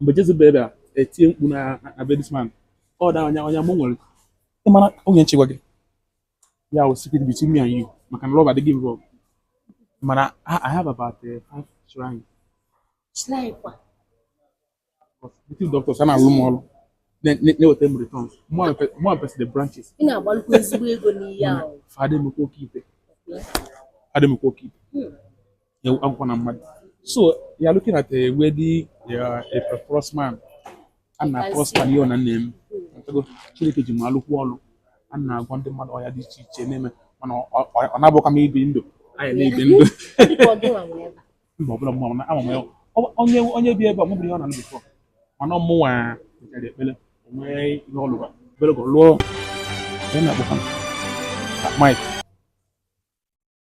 mgbe Jezebel bịara etie mkpu na na be this man ọ da ọnya ọnya mụ nwere ị mara onye nchekwa gị ya wụ secret between me and you maka na love adịghị involve mana I I have about uh, five shrine but native doctors a na-alụ m ọrụ na- na- na-eweta m returns mụ apesi the branches ị na-agbalụkwa ezigbo ego n'ihe ahụ fa dị m oke ikpe fa dị m oke ikpe akwụkwọ na mmadụ so you are looking at a wealthy uh, a prosperous man a na prosper n'ihe ọ na na-eme Ị ghọtago, Chineke ji m alụkwu ọlụ a na-agwọ ndị mmadụ ọya dị iche iche na-eme mana ọ- ọ ọ na-abụkwa m ibi ndụ anyị na-ebi ndụ Ọ dịka ọ gịnwa nwere ebe a. mba ọbụla mma mana ama m ya Ọ- onye onye bi ebe a mụbiri ihe ọ na ndụ before mana ọ mụnwa mechara ekpere o nwee ihe ọ lụba obere ka ọ lụọ onye na-akpọkwa m Mike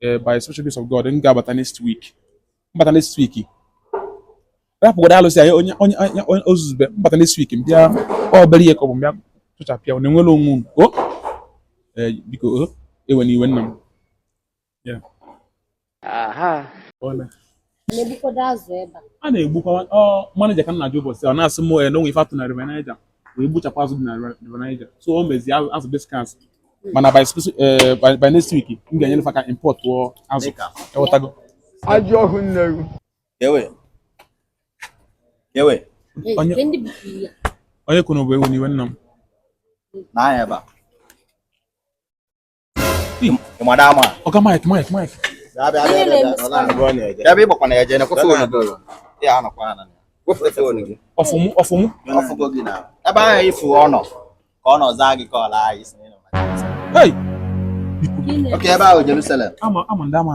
Eh, by special grace of God m ga-abata next week m bata next week rapụgodo alụsị anyị onye onye onye ozuzube m bata next week m bịa obere ihe ka ọ bụ bịa tụchapịa unu enwere onwe unu o eh, biko o ewena iwe nna m Yeah. Aha. a na-egbukwa manager ka m na-ajụ ụbọchị ọ na-asị m eh, na o nwe ife a tụ na river Niger wee gbuchapụ azụ dị na river Niger so o mezi azụ dị scarce mana by eh, next week m ga-enyere fa ka importụọ azụ ewetago ajọ ọhụ nneru onye kwuru bụ ewena iwe nna m madam ọga Mike Mike Mike ebe ị gbakwa na ya jee nekwa fon ya anọkwa ana ọfụmụ ọfụmụ ebe ahụ ị fụ ọ nọ ka ọ nọ zaa gị ka ọ laa isi Hey! Okay ebe ahụ Jerusalem. Ama ama ndị ama